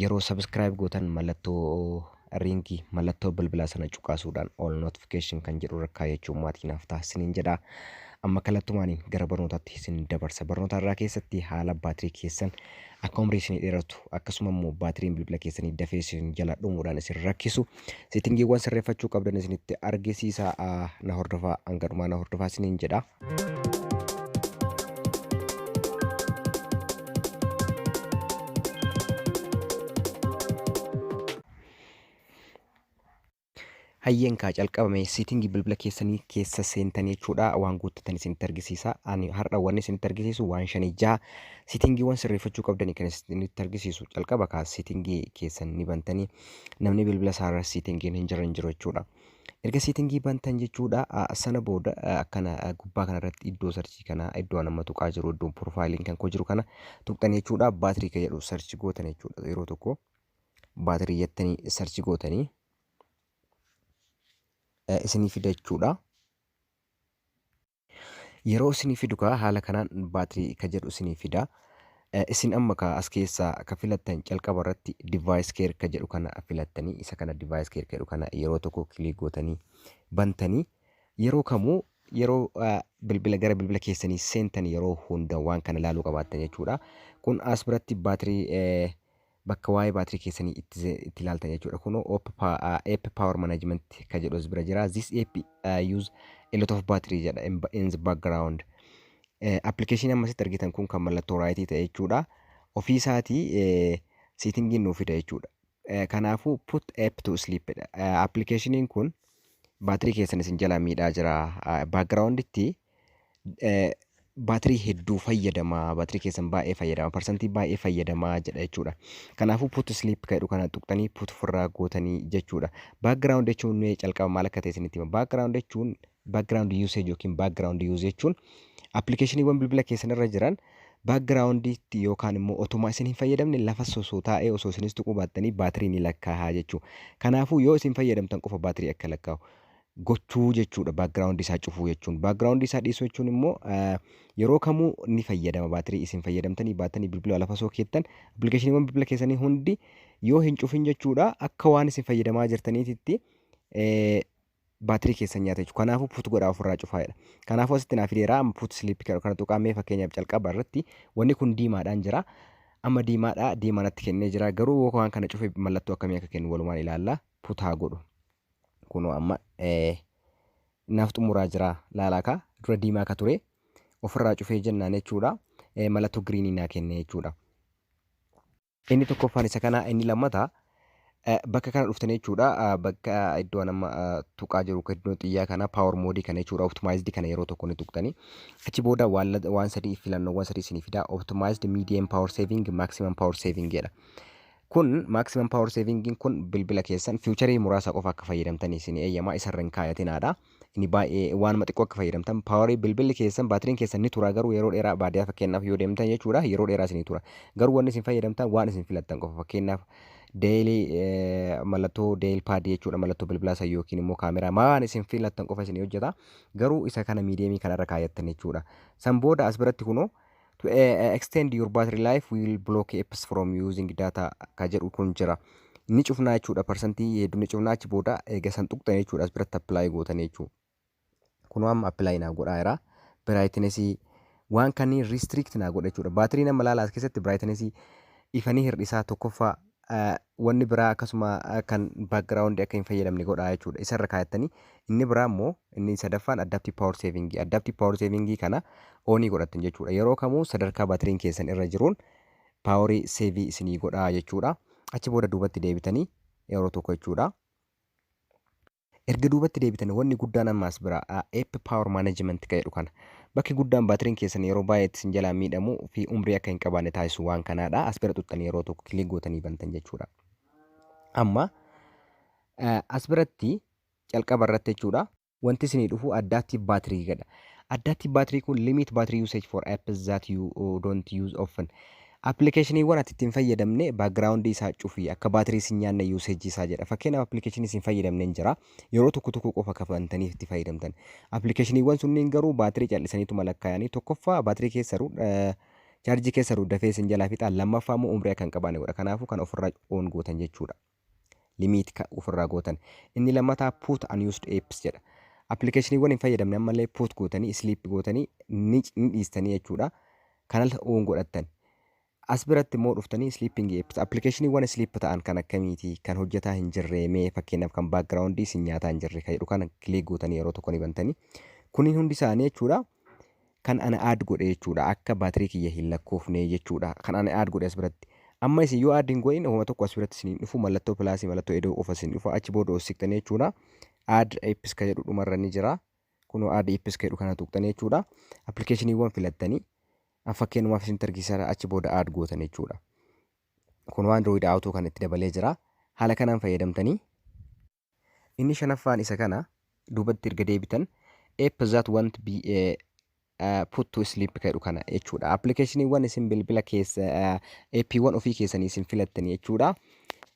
Yeroo subscribe gootan mallattoo ring mallattoo bilbilaa sana cuqaasuudhaan all notification kan jedhu irra kaayachuun maatii naaf ta'a isiniin jedha. Amma kallattumaaniin gara barnootaatti isin dabarsa. Barnoota irraa keessatti haala baatirii keessan akka umrii isinii dheeratu akkasuma immoo baatiriin bilbila keessanii dafee isin jala dhumuudhaan isin rakkisu Seetingiiwwan sirreeffachuu qabdan isinitti argisiisa na hordofaa hanga dhumaa na hordofaa isiniin jedha. Hayyeen kaa calqabame seetingii bilbila keessanii keessa seentanii jechuudha waan guuttatan isinitti argisiisa. Ani har'a wanni isinitti argisiisu waan shanii jaha seetingiiwwan sirreeffachuu qabdanii kan isinitti argisiisu calqaba kaa seetingii keessan ni bantanii namni bilbila isaarra siitingiin hin jirre hin jiru jechuudha. Erga siitingii bantan jechuudha sana booda akkana gubbaa kanarratti iddoo sarchii kana iddoo nama tuqaa jiru iddoon piroofaayiliin kan koo jiru kana tuqxan jechuudha baatirii kan jedhu sarchi gootan jechuudha yeroo tokko baatirii jettanii sarchi gootanii isinii fida jechuudha. Yeroo isinii fidu kaa haala kanaan battery ka jedhu isinii fida. Isin amma kaa as keessaa ka filattan calqaba irratti device care ka jedhu kana filattanii isa kana device care ka jedhu kana yeroo tokko click gootanii bantanii yeroo kamuu yeroo bilbila gara bilbila keessanii seentan yeroo hunda waan kana ilaaluu qabaattan jechuudha. Kun as biratti battery bakka waa'ee baatirii keessanii itti ze- itti ilaaltan jechuudha kunoo op pa- ah, app power management ka jedhu as bira jira this app ah, use a lot of battery jedha in ba- in the background Eh, application amma asitti argitan kun kan mallattoo raayitii ta'e jechuudha ofii isaatii eh, seetingiin nuuf fida jechuudha Eh, kanaafuu put app to sleep dha Eh, applicationiin kun baatirii keessan isin jalaa miidhaa jira background itti baatirii hedduu fayyadama baatirii keessan baay'ee fayyadama parsantii baay'ee fayyadama jedha jechuudha. Kanaafuu put sleep kan jedhu kana tuqxanii put ofirraa gootanii jechuudha. Background jechuun mee calqaba maal akka ta'e isinitti hima. Background jechuun background usage yookiin background use jechuun appilikeeshiniiwwan bilbila keessan irra jiran backgrounditti yookaan immoo otumaa isin hin fayyadamne lafa osoo taa'ee osoo isinis tuquu baattanii baatirii ni lakkaa'aa jechuudha. Kanaafuu yoo isin fayyadamtan qofa baatirii akka lakkaa'u. gochuu jechuudha background isaa cufuu jechuun. Background isaa dhiisuu jechuun immoo yeroo kamuu ni fayyadama baatirii isin fayyadamtanii baatanii bilbila lafa osoo keettan appilikeeshiniiwwan bilbila keessanii hundi yoo hin cufin jechuudha akka waan isin fayyadamaa jirtaniititti baatirii keessan nyaata jechuudha. Kanaafuu put godhaa ofirraa cufaa jedha. Kanaafuu asitti naaf fideera amma put sleep jedhu kana tuqaa mee fakkeenyaaf calqaba irratti wanni kun diimaadhaan jira. Amma diimaadha diimaa natti kennee jira garuu waan kana cufe mallattoo akkamii akka kennu walumaan ilaalla put haa godhu. kunoo amma naaf xumuraa jira laalaa kaa dura diimaa ka ture ofirraa cufee jennaan jechuudha mallattoo giriinii naa kenne jechuudha. Inni tokkoffaan isa kana inni lammata bakka kana dhuftanii jechuudha bakka iddoo nama tuqaa jiru iddoo xiyyaa kana power mode kana jechuudha optimized kana yeroo tokko ni tuqtanii achi booda waan sadii filannoowwan sadii isinii fidaa optimized medium power saving maximum power saving jedha. Kun maximum power saving'n kun bilbila keessan future muraasa qofa akka fayyadamtan isin eeyyama isarra hin kaayatinaadha. Inni baay'ee waanuma xiqqoo akka fayyadamtan power bilbilli keessan baatiriin keessan ni tura garuu yeroo dheeraa baadiyyaa fakkeenyaaf yoo deemtan jechuudha yeroo dheeraa isinii tura. Garuu wanni isin fayyadamtan waan isin filattan qofa fakkeenyaaf daily mallattoo daily pad jechuudha mallattoo bilbilaa san yookiin immoo kaameraa waan isin filattan qofa isin hojjeta. Garuu isa kana miidiyeemii kanarra kaayattan jechuudha. San booda as biratti kunoo To eh, extend your battery life we will block apps from using data ka jedhu kun jira. Ni cufnaa jechuudha parsantii hedduu ni cufnaa achi booda eega san tuqxan jechuudha as biratti apply gootan jechuudha. Kunoo amma apply naa godhaa jira. Brightness waan kanneen restrict naa godha jechuudha. Baatirii nama laala as keessatti brightness ifanii hir'isaa tokkoffaa wanni biraa akkasuma kan background akka hin fayyadamne godha jechuudha. Isa irra kaayattanii inni biraa immoo inni sadaffaan adaptive power saving. Adaptive power saving kana onii godhattan jechuudha. Yeroo kamuu sadarkaa batiriin keessan irra jiruun paaworii seevii isinii godha jechuudha. Achi booda duubatti deebitanii yeroo tokko jechuudha. Erga duubatti deebitani wanni guddaan amma as bira a epp power management ka jedhu kana. Bakki guddaan baatiriin keessan yeroo baay'ee itti isin jalaa miidhamu fi umrii akka hin qabaanne taasisu waan kanaa dha. As bira xuxxanii yeroo tokko click gootanii bantan jechuu dha. Amma eh, as biratti calqaba irratti jechuu dha. Wanti isinii dhufu adaptive battery jedha. Adaptive battery kun limit battery usage for apps that you uh, don't use often. Applicationwwan ati itti hin fayyadamne background isaa cufi akka battery si hin nyaanne usage isaa jedha fakkeenyaaf application isin fayyadamnen jira yeroo tokko tokko qofa ka bantaniif itti fayyadamtan applicationwwan sunniin garuu battery cal'isaniituma lakkaayanii tokkoffaa battery keessaru charge keessaru dafee isin jalaa fixaa lammaffaa immoo umrii akka hin qabaanne godha kanaafuu kan ofirraa on gootan jechuudha limit ka ofirraa gootan. Inni lammataa put unused apps jedha. Appilikeeshiniiwwan hin fayyadamne ammallee put gootanii sleep gootanii ni ni dhiistanii jechuudha. Kanas oon godhattan. As biratti immoo dhuftanii sleeping apps appilikeeshiniiwwan sleep ta'an kan akkamiiti kan hojjetaa hin jirree mee fakkeenyaaf kan background isin nyaataa hin jirre kan jedhu kana click gootanii yeroo tokko ni bantanii. Kunniin hundi isaanii jechuudha Kan ana add godhe jechuudha akka battery kiyya hin lakkoofne jechuudha kan ana add godhe as biratti. Amma isin yoo add hin godhin homa tokko as biratti isin hin dhufu mallattoo plus mallattoo edoo qofa isin dhufa achi booda os siqtanii jechuudha add apps ka jedhu dhumarra ni jira kunoo add apps ka jedhu kana tuqxanii jechuudha appilikeeshiniiwwan filattanii an fakkeenumaaf isin targiisara achi booda add gootan jechuudha kunoo android auto kan itti dabalee jira haala kanaan fayyadamtanii Inni shanaffaan isa kana, duubatti erga deebitan, app that won't be uh, put to sleep ka jedhu kana jechuudha. Appilikeeshiniiwwan isin bilbila keessa appiiwwan ofii keessanii isin filattan jechuudha.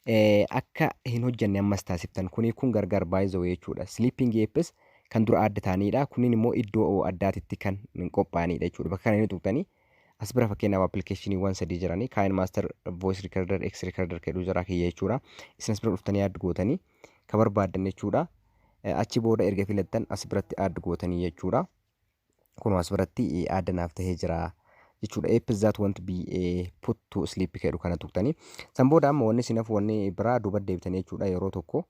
Eh, akka hin hojjanne ammas taasiftan kuni kun gargar baay'ee jechuudha. Sleeping apps kan dura adda ta'anidha. Kunniin immoo iddoo addaatitti kan qophaa'anidha jechuudha. Bakka kana inni tuqxanii As bira fakkeenyaaf appilikeeshiniiwwan sadii jiranii Kain Master Voice Recorder X Recorder jedhu jira kiyya jechuudha. Isin as bira dhuftanii add gootanii ka barbaaddan jechuudha. Eh, Achi booda erga filattan as biratti add gootanii jechuudha. Kunoo as biratti eh, add naaf tahee jira jechuudha. Apps that won't be eh, put to sleep jedhu kana tuqtanii. San booda amma wanni isin hafu wanni biraa duuba deebitanii jechuudha yeroo tokko.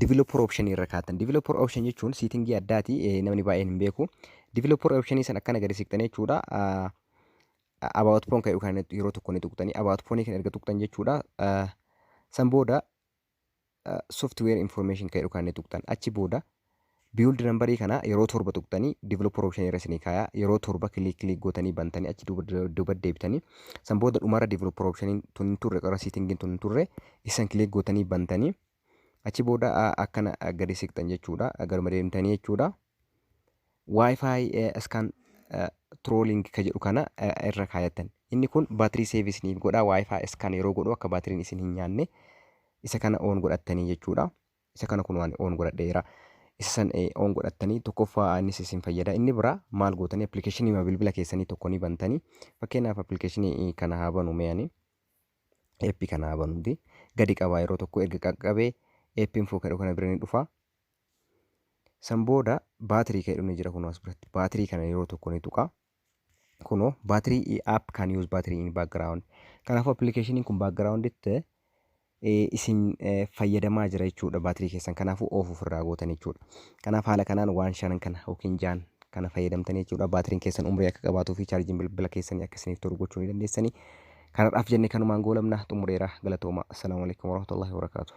Developer option irra kaatan. Developer option jechuun siitingii addaati namni baay'een hin beeku. Developer option san akkana gadi siqxan jechuudha. About phone kan yookaan yeroo tokko ni tuqxani. About phone kan erga tuqxan jechuudha. San booda software information kan yookaan ni tuqxan. Achi booda Build number kana yeroo 7 tuqxanii developer option irra isinii kaaya. Yeroo 7 click click gootanii bantanii achi duuba duuba deebitanii san booda dhumarra developer option tun hin turre qarra setting tun hin turre isan click gootanii bantanii achi booda a- akkana a, gadi siqxan jechuudha. Garuma deemtanii jechuudha. Wi-Fi eh, scan eh, trolling ka jedhu kana eh, irra kaayattan. Inni kun baatirii save isiniif godha. Wi-Fi scan yeroo godhu akka baatiriin isin hin nyaanne isa kana on godhattanii jechuudha. Isa kana kunoo ani on godhadheera. Isa san on godhattanii tokkoffaa innis isin fayyada. Inni biraa maal gootanii appilikeeshiniima bilbila keessanii tokko ni bantanii. Fakkeenyaaf appilikeeshinii kana haa banu mee ani. Eeppi kana haa banuuti. Gadi qabaa yeroo tokko erga qaqqabee eeppi infoo kadhu kana bira ni dhufa. San booda baatirii kadhu ni jira kunoo as biratti. Baatirii kana yeroo tokko ni tuqaa. Kuno battery app can use battery in background. Kanaafuu appilikeeshiniin kun backgrounditti isin fayyadamaa jira jechuudha baatirii keessan kanaafuu oof ofirraa gootan jechuudha. Kanaaf haala kanaan waan shanan kana yookiin jaan kana fayyadamtan jechuudha. Baatiriin keessan umrii akka qabaatuu fi chaarjiin bilbila keessanii akka isiniif tolu gochuu ni dandeessanii. Kanarraaf jenne kanumaan goolabna xumureera galatooma. Assalaamu alaikum warahmatullahi wabarakaatuh.